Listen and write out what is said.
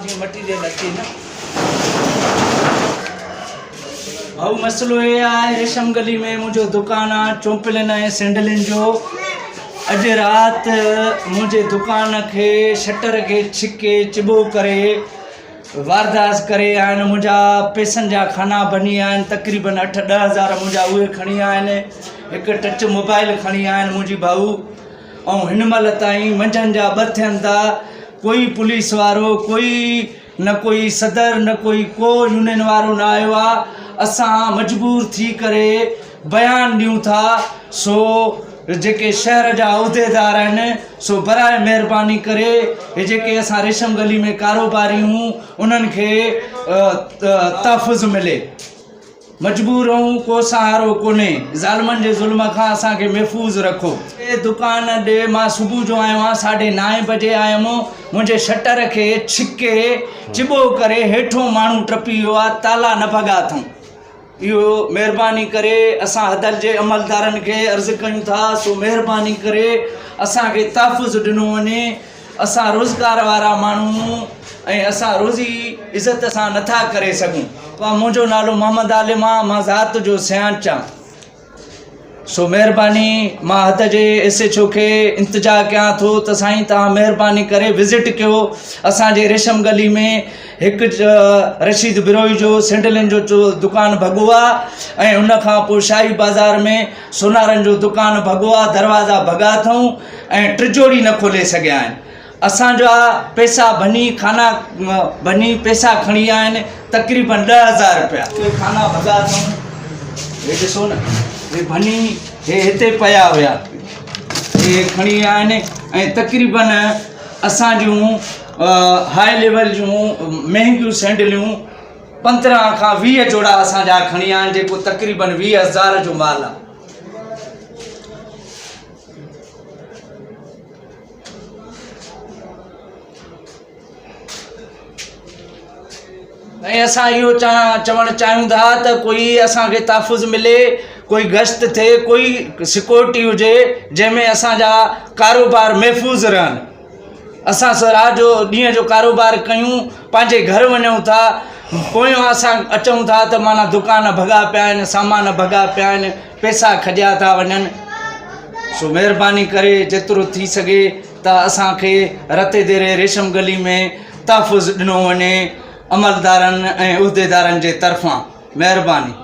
جيئن مٽي جيئن لڳجي نه. ڀائو مسئلو اهي آهي ريشم گلي ۾ منهنجو دڪان آ چومپلين ۽ سينڊلين جو اڄ رات منهنجي دڪان کي شٽر کي ڇڪي چبو ڪري وارداس ڪري آهن منهنجا پيسن جا کانا بني آهن تقريبن اٺ ڏهه هزار منهنجا اهي کڻي آهن هڪ ٽچ موبائل کڻي آهن منهنجي ڀائو ائون هن مهل تائين منجهن جا ٻه ٿين ٿا ڪوئي پوليس وارو ڪوئي نه ڪوئي صدر نه ڪوئي ڪو يونين وارو نه آيو آ اسان مجبور ٿي ڪري بيان ڏيون ٿا سو جيڪي شهر جا عهديدار آهن سو براء مهرباني ڪري هي جيڪي اسان ريشم گلي ۾ ڪاروباري هون انهن کي تحفظ ملي مجبور آهون ڪو سهارو ڪونهي ظالمن جي ظلم کان اسان کي محفوظ رکو. اي دڪان ڏي مان صبح جو آيو آهيان ساڍي نائين بجي آيم منهنجي شٽر کي ڇڪي چٻو ڪري هيٺون ماڻهو ٽپي ويو آهي تالا نه ڀڳا اٿئون اهو مهرباني ڪري اسان هدل جي عملدارن کي عرض ڪيون ٿا سو مهرباني ڪري اسان کي تحفظ ڏنو وڃي اسان روزگار وارا ماڻهو ۽ اسان روزي عزت سان نٿا ڪري سگهون. مان منهنجو نالو محمد عالم آ مان ذات جو سيانچ آ سو مهرباني مان حد جي ايس ايچ او کي انتجا ڪيان ٿو ته سائين تهان مهرباني ڪري وزٽ ڪيو اسان جي ريشم گلي ۾ هڪ رشيد بروهي جو سينڊلن جو دڪان ڀڳو آ ۽ ان کان پوء شاهي بازار ۾ سونارن جو دڪان ڀڳو آ، دروازا ڀڳا اٿئون ۽ ٽجوڙي نه کولي سگهيا آهن. اسان جا پئسا ڀڃي خانا ڀڃي پئسا کڻي ويا آهن، تقريبن ڏهه هزار رپيا. اهي خانا ڀڳا اٿئون، هي ڏسو نه، هي ڀڃي هي هتي پيا هيا، هي کڻي ويا آهن ۽ تقريبن اسان جون هاء ليول جون مهنگيون سينڊليون، پندرهن کان ويهه جوڙا اسان جا کڻي آيا آهن جيڪو تقريبن ويهه هزار جو مال آهي. ۽ اسان اهو چوڻ چاهيون ٿا ته ڪوئي اسان کي تحفظ ملي ڪوئي گشت ٿئي ڪوئي سڪيورٽي هجي جنهن ۾ اسان جا ڪاروبار محفوظ رهن اسان سوراء جو ڏينهن جو ڪاروبار ڪيون پنهنجي گهر وڃون ٿا پويان اسان اچون ٿا ته معنيٰ دڪان ڀڳا پيا آهن سامان ڀڳا پيا آهن پيسا کڄيا ٿا وڃن سو مهرباني ڪري جيترو ٿي سگهي ته اسانکي رتي ديري ريشم گلي ۾ تحفظ ڏنو وڃي عملدارن ۽ عهديدارن جي طرفان مهرباني